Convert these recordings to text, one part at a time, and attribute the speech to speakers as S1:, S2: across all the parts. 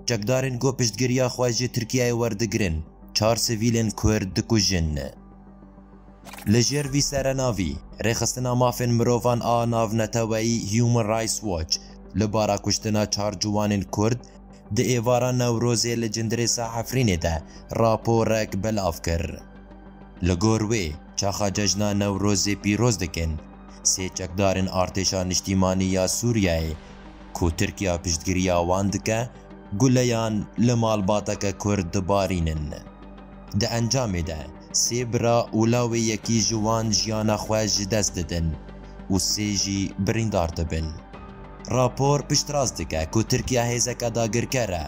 S1: Çekdarên ku piştgiriya xwe ji Tirkiyeyê werdigirin, çar sivîlên Kurd dikujin. Li jêr vî serenavî, Rêxistina Mafên Mirovan a Navneteweyî Human Rights Watch li bara kuştina çar ciwanên Kurd di êvara Newrozê li Cindirêsa Efrînê de raporek belav kir. Li gor wê, çaxa cejna Newrozê pîroz dikin. Sê çekdarên Artêşa Niştîmanî ya Sûriyeyê ku Tirkiya piştgiriya wan dike, guleyan li malbateke Kurd dibarînin. Di encamê de sê bira û lawê yekî ji wan jiyana xwe ji dest didin û sê jî birîndar dibin. Rapor piştrast dike ku Tirkiya hêzeke dagirker e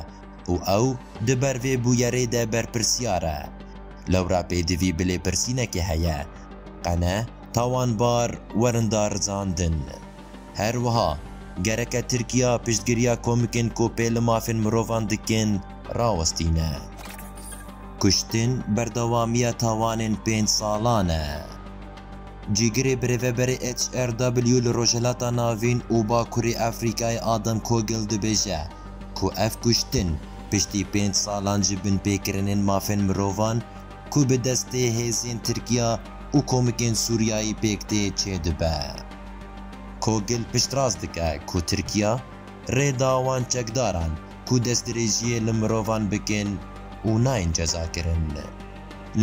S1: û ew di ber vê bûyerê de berpirsyar e. Lewra pêdivî bi lêpirsînekê heye, Qene, tawanbar werin darizandin. Her wiha gereke Tirkiya piştgiriya komikên ku pê li mafên mirovan dikin rawestîne. Kuştin berdewamiya tawanên pênc salan e. Cîgirê birêveberê HRW li Rojhilata Navîn û Bakurê Efrîkayê Adam Kogel dibêje ku ev kuştin piştî pênc salan ji binpêkirinên mafên mirovan, ku bi destê hêzên Tirkiya û komikên Sûriyayî pêk tê çêdibe. Kogil piştrast dike ku Tirkiya rê da wan çekdaran ku destdirêjiyê li mirovan bikin û nayên cezakirin.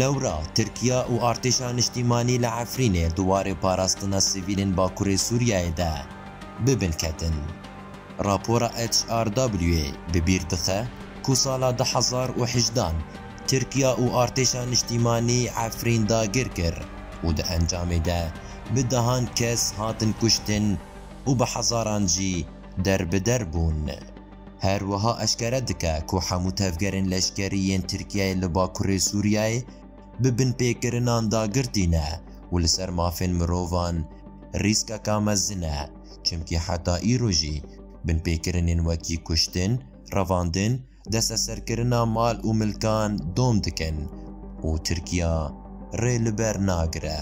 S1: Lewra Tirkiya û artêşa niştîmanî li Efrînê di warê parastina sivîlên bakurê Sûriyayê de bi bin ketin. Rapora HRW'ê bi bîr dixe ku sala du hezar û hejdan, Tirkiya û Artêşa Niştîmanî Efrîn dagir kir û di encamê de bi dehan kes hatin kuştin û bi hezaran jî derbider bûn. Her wiha eşkere dike ku hemû tevgerên leşkerî yên Tirkiyeyê li Bakurê Sûriyeyê bi binpêkirinan dagir tîne û li ser mafên mirovan rîskeka mezin e, çimkî heta îro jî binpêkirinên wekî kuştin, revandin, desteserkirina mal û milkan dom dikin û Tirkiya rê li ber nagire.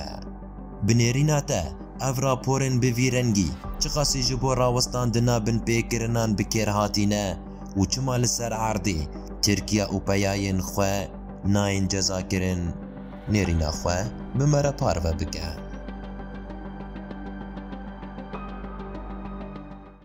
S1: Bi nêrîna te, ev raporên bi vî rengî çiqasî ji bo rawestandina binpêkirinan bi kêr hatîne û çima li ser erdê Tirkiya û peyayên xwe nayên cezakirin, nêrîna xwe bi me re parve bike.